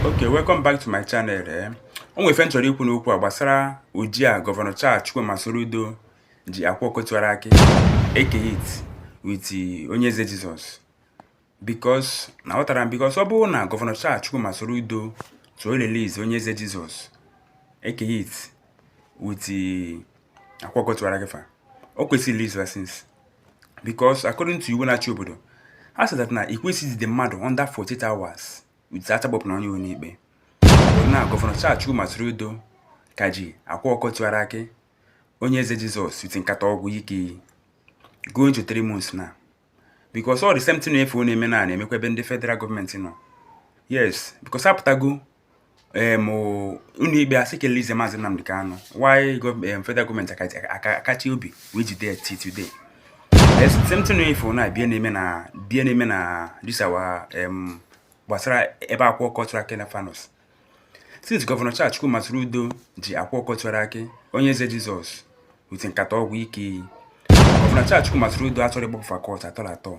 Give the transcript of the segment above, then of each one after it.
okay welcome back to my channel eh o nwere ife m chọrọ ikwu n'okwu a gbasara oji a gọvanọ Charles Chukwuma Soludo ji Akwa Ọkụkọ Tiwara Akị Eke Hit with onye eze Jizọs because aghọtarọ m because ọ bụrụ na gọvanọ Charles Chukwuma Soludo so release onye eze Jizọs Eke Hit with Akwa Ọkụkọ Tiwara Akị fa o kwesịrị release fa since because according to iwu na-achị obodo ha sị that na i kwesịghị ijide mmadụ under 48 hours without agbapụ onye ụlọikpe na gọvanọ Charles Chukwuma Soludo ka ji Akwa Ọkụkọ Tiwara Akị onye eze Jizọs with nkata ọgwụ ike iyi going to three months now because all the same thing na ife na-eme na na-emekwa ebe ndị federal gọọmenti nọ yes because apụtago um ụlọikpe asị ka a release maazị Nnamdi Kanu why um, federal gọọmenti akachi obi wee jide ya till today same thing ife na bịa na-eme na bịa na-eme na this our um, gbasara ebe Akwa Ọkụkọ Tiwara Akị na fa nọ since gọvanọ Charles Chukwuma Soludo ji Akwa Ọkụkọ Tiwara Akị onye eze Jizọs with nkata ọgwụ ike iyi gọvanọ Charles Chukwuma Soludo achọrọ ịgbapụ fa court at all at all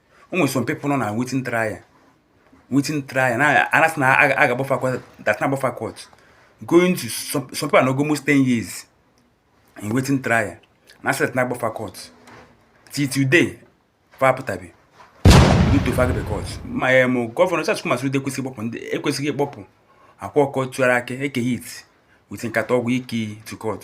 o nwere some people nọ na waiting trial waiting trial na a na-asị na a ga-agba fa court that na a ga-agba fa court going to some people are almost 10 years in waiting trial na asị that na a ga-agba fa court till today fa apụtabe to fa agba fa court ma ya mụ gọvanọ Charles Chukwuma Soludo ekwesịghị ịkpọpụ ndị ekwesịghị ịkpọpụ Akwa Ọkụkọ Tiwara Akị Eke Hit with nkata ọgwụ ike to court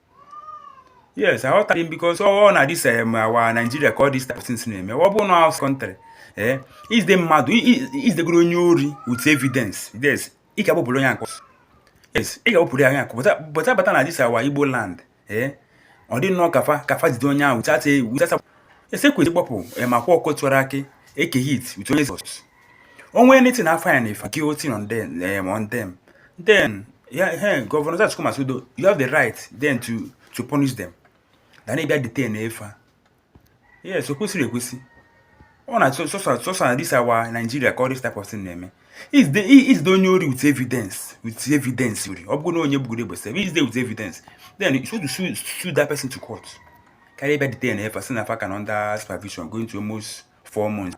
yes aghọtaghị m because ọ na this em our Nigeria ka ọ this type of things na-eme ọ bụrụ na outside country ee i jide mmadụ i jidegoro onye ori with evidence yes ị ga-agbapụrụ onye a court yes ị ga-agbapụrụ ya court but a bata na this our Igbo land ee ọ dị nnọọ ka fa ka fa jide onye ahụ without without yes e kwesị ịgbapụ ma Akwa Ọkụkọ Tiwara Akị Eke Hit with onye eze Jizọs onwe anything I find if guilty on them um, on them then yeah, hey, Governor Zach come as you have the right then to to punish them then they get detained efa eh, yes okwesịrị ekwesị ọ na sọsọ na this our Nigeria ka all this type of thing na-eme is the is the onye ori with evidence with evidence ori ọ bụrụ na onye gbugoro egbe sef is there with evidence then you should sue, sue that person to court carry bad detain efa si na fa ka na under supervision going to almost four months